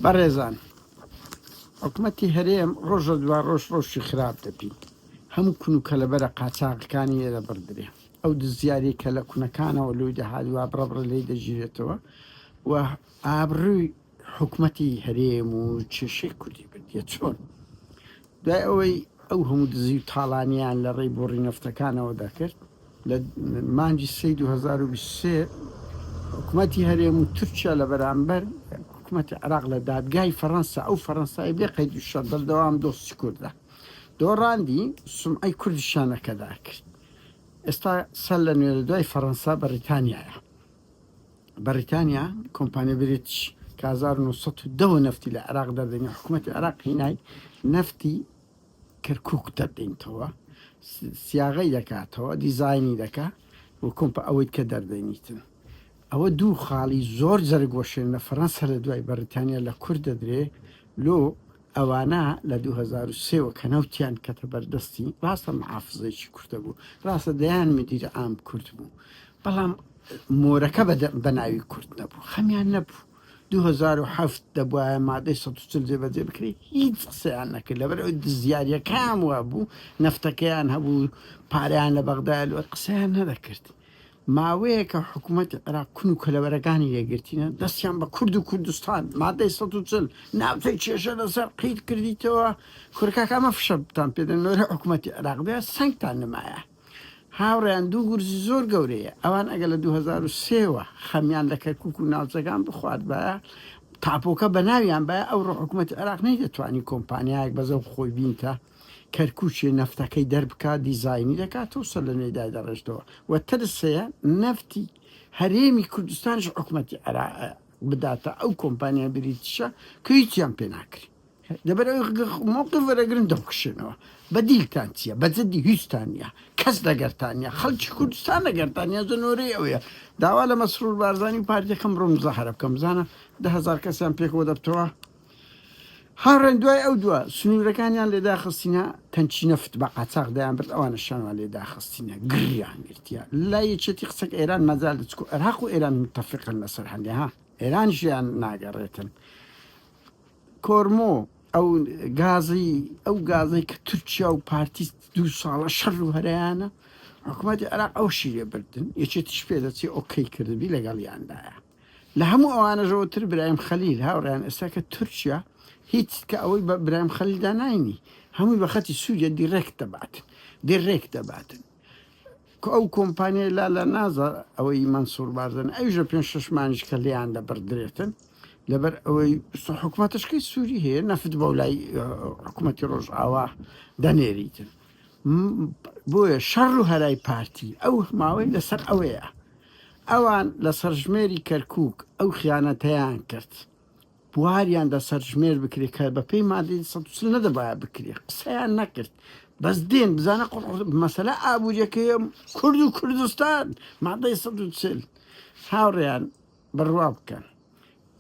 بەڕێزان حکومەتی هەرێم ڕۆژ لە دوا ڕۆژ ڕۆژی خراپ دەبین هەموو کون و کەلەبەرە قاچاغەکانی لێ دەبڕدرێ ئەو دزیاری کە لە کونەکانەوە لۆی دەهات وا بڕە بڕە لێی دەگیرێتەوە و ئابڕووی حکومەتی هەرێم و کێشەی کوردی بردیە چۆن دوای ئەوەی ئەو هەموو دزی و تاڵانییان لە ڕێی بۆڕی نەفتەکانەوە دەکرد، لە مانگی سێی دوو هەزار و بیست و سێ حکومەتی هەرێم و تورکیا لە بەرامبەر حکومەتی عێراق لە دادگای فەرەنسا، ئەو فەرەنسای بێ قەید و شەرت بەردەوام دۆستی کوردە دۆڕاندی، سومعەی کوردی شانەکەدا کرد. ئێستا سەرلەنوێ لە دوای فەرەنسا بەڕیتانیایە. بەڕیتانیا کۆمپانیا بریتش کە هەزار و نۆ سەد و دە وە نەفتی لە عێراق دەردەنێ حکوومەتی عێراق هینای نەفتی کەرکووک دەردەینتەوە سیاغەی دەکاتەوە دیزاینی دەکا و کۆمپە ئەوەی کە دەردەنیتن ئەوە دوو خاڵی زۆر جەرگ وەشێن لە فەرەنسا لە دوای بەڕیتانیا لە کورد دەدرێ لۆ ئەوانە لە دوو هەزار و سێ وە کە نەوتیان کەتە بەر دەستی، ڕاستە محافزەیەکی کوردە بوو، ڕاستە دەیان مدیر عام کورد بوو، بەڵام مۆرەکە بە بە ناوی کورد نەبوو، خەمیان نەبوو. دوو هەزار و حەفت دەبوایە مادەی سەد و چل جێبەجێ بکرێ، هیچ قسەیان نەکرد، لەبەر ئەوەی دزیارییەکەیان وابوو، نەفتەکەیان هەبوو، پارەیان لە بەغدایە، لۆ قسەیان نەدەکرد. ماوەیەکە حکومەتی عێراق کون و کەلەوەرەکانی لێگرتینە دەستیان بە کورد و کوردستان مادەی سەد و چل ناوچەی کێشە لەسەر قیت کردیتەوە کورە کاکە ئەمە فشەتان پێدەن لۆرە حکومەتی عێراق بێ سەنگتان نمایە هاوڕێیان دوو گورزی زۆر گەورەیە ئەوان ئەگەر لە دوو هەزار و سێ وە خەمیان لە کەرکوک و ناوچەکان بخواردبایە تاپۆکە بەناویان بایە ئەوڕۆ حکومەتی عێراق نەیدەتوانی کۆمپانیایەک بەزەو خۆی بینتە کەرکوکی نەفتەکەی دەربکات دیزاینی دەکاتەوە و سەرلەنوێی دایدەڕێژتەوە و ترس هەیە نەفتی هەرێمی کوردستانیش حکومەتی عێراق بداتە ئەو کۆمپانیای بریتیشە کە هیچیان پێ ناکرێت لەبەر مووقف وەرەگرن دەخشێنەوە بەدیلتان چییە بەجددی هیچتان نیە کەس لەگەرتانە خەڵکی کوردستان لەگەرتانە زنۆرەی ئەوەیە داوا لە مەسرور بارزانانی و پارتەکەم ڕۆم زەهرە بکەم بزانە دهزار کەسیان پێکەوە دەبتەوە هاوڕێن دوای ئەو دوا سنوورەکانیان لێداخستینە تەنچی نەفت بە قاچاق دەیان برد ئەوانە شانوان لێداخستینە گریان گرتیا لا یەکێتی قسەک ئێران مەزار لە چکو عێراق و ئێران متفقن لەسەر هەندێ ها ئێران ژیان ناگەڕێتن کۆرمۆ ئەو گازی ئەو گازی کە تورکیا و پارتی دوو ساڵە شەڕ و هەرایانە حکوومەتی عراق ئەو شیرێ بردن یەکێتیش پێ دەچێ ئۆکەی کردبی لەگەڵیاندایە لە هەموو ئەوانەشەوە تر برایم خەلیل هاوڕێیان ئێستا کە تورکیا هیچ کە ئەوەی بە برایم خەلیلدا ناینی هەمووی بە خەتی سووریە دیرێکت دەباتن دیرێکت دەباتن کە ئەو کۆمپانیای لا لە نازە ئەوەی مەنسوور بارزن ئەویشە پێنج شەش مانیش کە لێیان دەبڕدرێتن لەبەر ئەوەی سە حکومەتشکەی سووری هەیە نەفت بەو لای حکومەتی ڕۆژئاوا دەنێریتن م بۆیە شەڕ و هەرای پارتی ئەو ماوەی لەسەر ئەوەیە ئەوان لە سەرژمێری کەرکوک ئەو خیانەتەیان کرد بواریان دە سەرژمێر بکرێت کە بە پێی مادەی سە نەدەبایە بکرێت قسەیان نەکرد بەس دێن بزانە قڕ مەسەلا ئابوووریەکەی کورد و کوردستان مادەی سە چل هاوڕیان بڕوا بکەن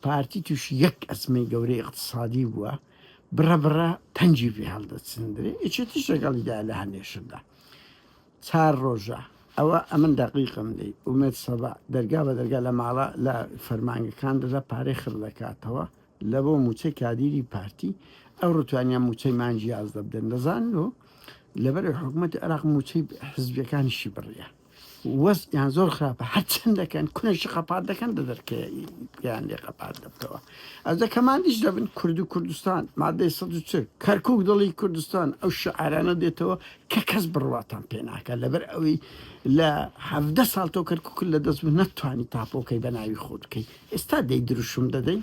پارتی توشی یەک ئەزمەی گەورەی ئیقتسادی بووە بڕە بڕە پەنجی پێ هەڵدەچندرێ ئیچێ تیش لەگەڵیدا لە هەمێشەدا چار ڕۆژە ئەوە ئەمن دەقیقم لی ئومێد سەبا دەرگا بە دەرگا لە ماڵە لە فەرمانگەکان دەدا پارەی خڕ دەکاتەوە لە بۆ موچەی کادیری پارتی ئەو ڕوتوانیان موچەی مانجی یازدە بدەن دەزان و لەبەر حکوومەت عراق موچەی حزبەکانیشی بڕیە وەزعیان زۆر خراپە هەرچەند دەکەن کونەشی خەپات دەکەن دە دەرکەیان لێ خەپات دەبتەوە ئەز دەکەمانیش دەبن کورد و کوردستان مادەی سە کەرکک دڵی کوردستان ئەو شعرانە دێتەوە کە کەس بڕواتان پێناکە لەبەر ئەوەی لە هەدە ساڵ تۆ کەرکک لە دەست بوو نەتوانی تاپۆکەی بە ناوی خۆت بکەیت ئێستا دەی دروشم دەدەین